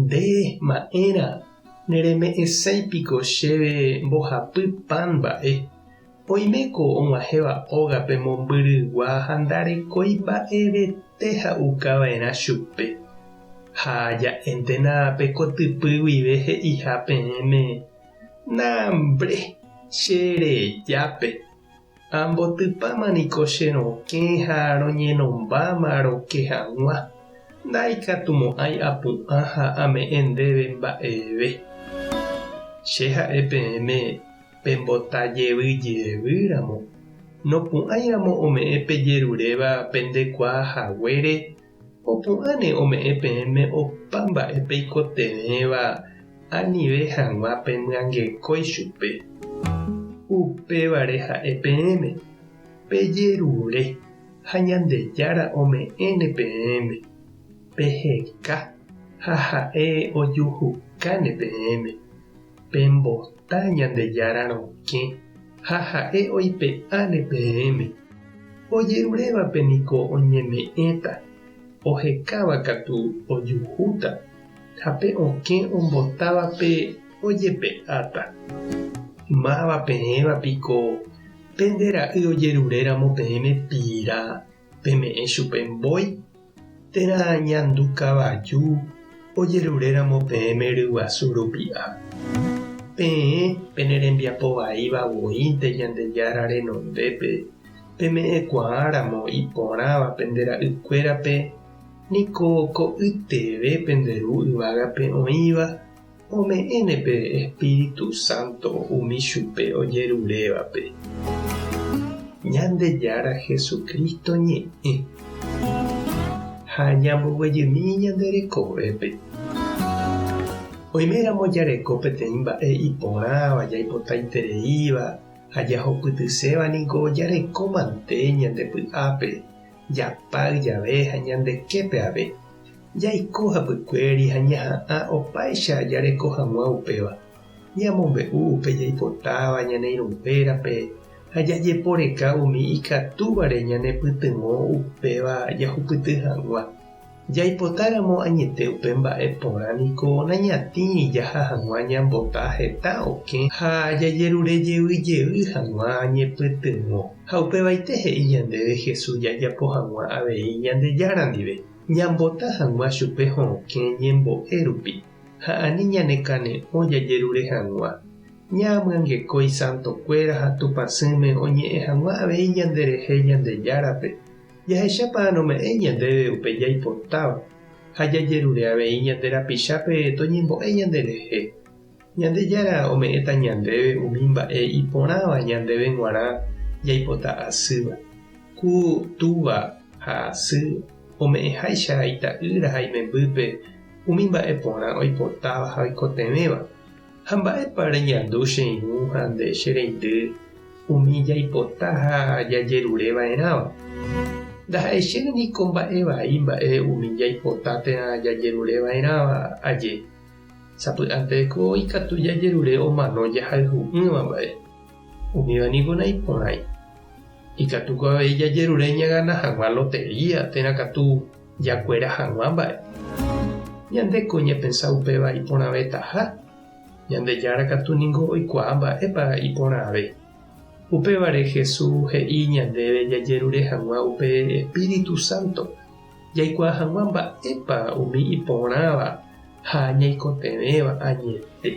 Nde, ma'ẽra, nereme'ẽsái piko chéve mbohapy pan mba'e? Oime ko og̃uahẽva ógape mombyrygua ha ndarekói mba'evete ha'uka va'erã chupe. Ha ja'éntena pe kotypy guive he'iha peẽme, Na, mbre, che rejápe. Ambotypáma niko che rokẽ ha roñenombáma roke hag̃ua, ndaikatumo'ãi apu'ã ha ame'ẽ ndéve mba'eve. Che ha'e peẽme pembota jevy jevy ramo, nopu'ãiramo ome'ẽ pejeruréva pendekuaa haguére Opu'ãne ome'ẽ peẽme opa mba'e peikotevẽva anive hag̃ua pemyangekói chupe. Upévare ha'e peẽme, Pejerure ha Ñandejára ome'ẽne peẽme. Peheka ha ha'e ojuhukáne peẽme. Pemboty. ta Ñandejára rokẽ ha ha'e oipe'áne peẽme. Ojerurévape niko oñeme'ẽta, ohekáva katu ojuhúta, ha pe okẽ ombotávape ojepe'áta. Máva peẽva piko pende ra'y ojeruréramo peẽme pira? Peme'ẽ chupe mbói térã ñandu kavaju ojeruréramo peẽme ryguasu rupi'a. Peẽ pene rembiapo vaíva voínte Ñandejára renondépe peme'ẽkuaáramo iporãva pende ra'ykuérape, niko ko'yteve pende Ru yvágape oĩva Ome'ẽne pe Espíritu Santo umi chupe ojerurévape. Ñandejára Jesucristo ñe'ẽ ha ñamboguejymi ñande rekovépe. Oiméramo jareko peteĩ mba'e iporãva jaipotaitereíva ha jahupytyséva niko jareko mante ñande py'ápe, japáy jave ha ñande képe ave. Jaiko hapykuéri ha ñaha'ã opáicha jareko hag̃ua upéva. Ñamombe'u upe jaipotáva ñane irũnguérape ha jajeporeka umi ikatúvare ñanepytyvõ upéva jahupyty hag̃ua. Jaipotáramo añete upe mba'e porã niko nañatĩ jaha hag̃ua ñambota heta okẽ ha jajerure jey jey hag̃ua ñepytyvõ. Ha upevaite he'i ñandéve Jesús jajapo hag̃ua avei Ñandejára ndive. Ñambota hag̃ua chupe ho'okẽ ñembo'e rupi ha ani ñanekane'õ jajerure hag̃ua. Ñaamyangeko isantokuéra ha Tupãsỹme oñe'ẽ hag̃ua avei ñanderehe Ñandejárape, jahechápa anome'ẽ ñandéve upe jaipotáva ha jajerure avei ñande rapichápe toñembo'e ñanderehe. Ñandejára ome'ẽta ñandéve umi mba'e iporãva ñandéve g̃uarã jaipota asýva. Ku, túva ha asy ome'ẽháicha ita'ýra ha imembýpe umi mba'e porã oipotáva ha oikotevẽva. Ha mba'épa reñandu che irũ ha nde che reindy umi jaipota ha jajerure va'erãva? Ndaha'éi chéve niko mba'e vai mba'e umi jaipota térã jajerure va'erãva aje. Sapy'anteko ikatu jajerure omano jahayhu'ỹva mba'e. Umíva niko naiporãi. Ikatuko avei jajerure ñagana hag̃ua lotería térã katu jakuera hag̃ua mba'e. Ñande ko ñapensa upéva iporãvetaha. Ñandejára katu niko oikuaa mba'épa iporãve. Upévare Jesús he'i ñandéve jajerure hag̃ua upe espíritu sánto. jaikuaa hag̃ua mba'épa umi iporãva ha ñaikotevẽva añete.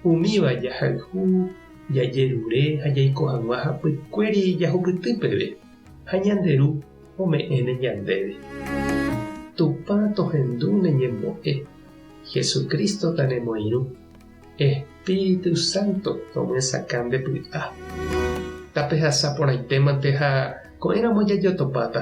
Umíva jahayhu, jajerure ha jaiko hag̃ua hapykuéri jahupyty peve, ha ñande Ru ome'ẽne ñandéve. Tupã tohendu ne ñembo'e, Jesucristo-ta nemoirũ. Ej. Espíritu Santo nomyesakã nde py'a. Tapehasa porãitémante ha ko'ẽramo jajotopáta.